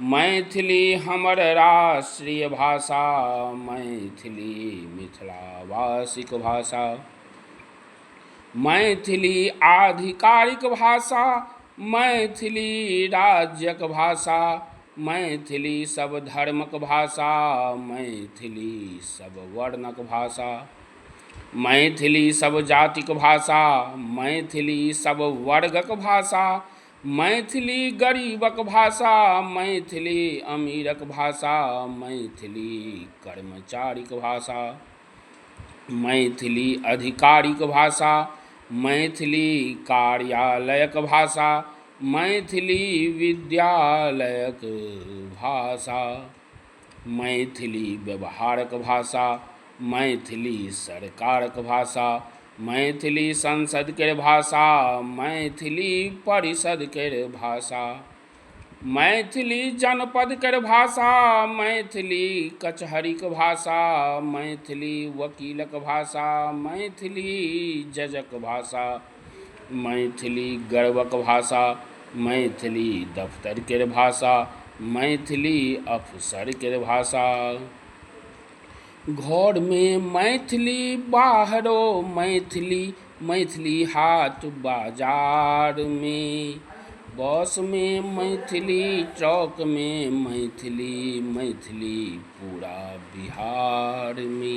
मैथिली हमर राष्ट्रीय भाषा मैथिली मिथिलावासीक भाषा मैथिली आधिकारिक भाषा मैथिली राज्यक भाषा मैथिली सभ धर्मक भाषा मैथिली सभ वर्णक भाषा मैथिली सभ जातिक भाषा मैथिली सभ वर्गक भाषा मैथिली गरीबक भाषा मैथिली अमीरक भाषा मैथिली कर्मचारीक भाषा मैथिली अधिकारीक भाषा मैथिली कार्यालयक भाषा मैथिली विद्यालयक भाषा मैथिली व्यवहारक भाषा मैथिली सरकारक भाषा मैथिली संसदके भाषा मैथिली परिषदके भाषा मैथिली जनपदके भाषा मैथिली कचहरीके भाषा मैथिली वकीलक भाषा मैथिली जजक भाषा मैथिली गर्वक भाषा मैथिली दफ्तर केर भाषा मैथिली अफसर केर भाषा घरमे मैथिली बाहरो मैथिली मैथिली हाट बाजारमे बसमे मैथिली ट्रकमे मैथिली मैथिली पूरा बिहारमे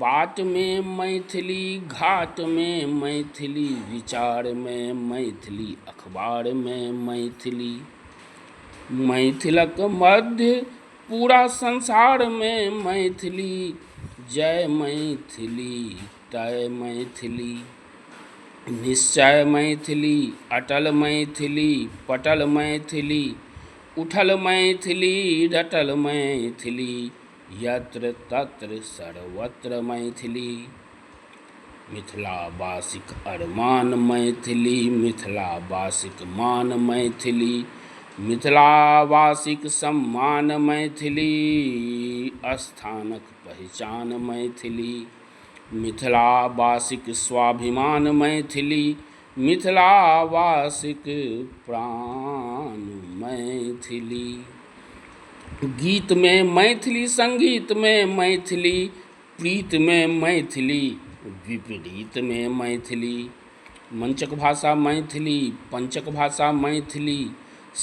बातमे मैथिली घाटमे मैथिली विचारमे मैथिली अखबारमे मैथिली मैथिलक मध्य पूरा संसारमे मैथिली जय मैथिली तय मैथिली निश्चय मैथिली अटल मैथिली पटल मैथिली उठल मैथिली डटल मैथिली यत्र तत्र सर्वत्र मैथिली मिथिलावासीक अरमान मैथिली मिथिलावासीक मान मैथिली मिथिलावासीक सम्मान मैथिली स्थानक पहिचान मैथिली मिथिलावासीक स्वाभिमान मैथिली मिथिलावासीक प्राण मैथिली गीतमे मैथिली सङ्गीतमे मैथिली प्रीतमे मैथिली विपरीतमे मैथिली मञ्चक भाषा मैथिली पञ्चक भाषा मैथिली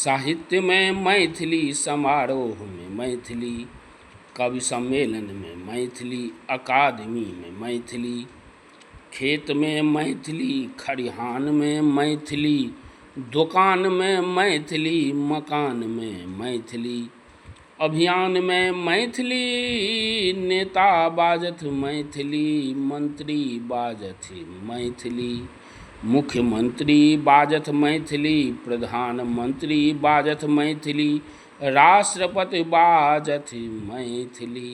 साहित्यमे मैथिली समारोहमे मैथिली कवि सम्मेलनमे मैथिली अकादमीमे मैथिली खेतमे मैथिली खरिहानमे मैथिली दोकानमे मैथिली मकानमे मैथिली अभियानमे मैथिली नेता बाजथि मैथिली मन्त्री बाजथि मैथिली मुख्यमन्त्री बाजथि मैथिली प्रधानमन्त्री बाजथि मैथिली राष्ट्रपति बाजथि मैथिली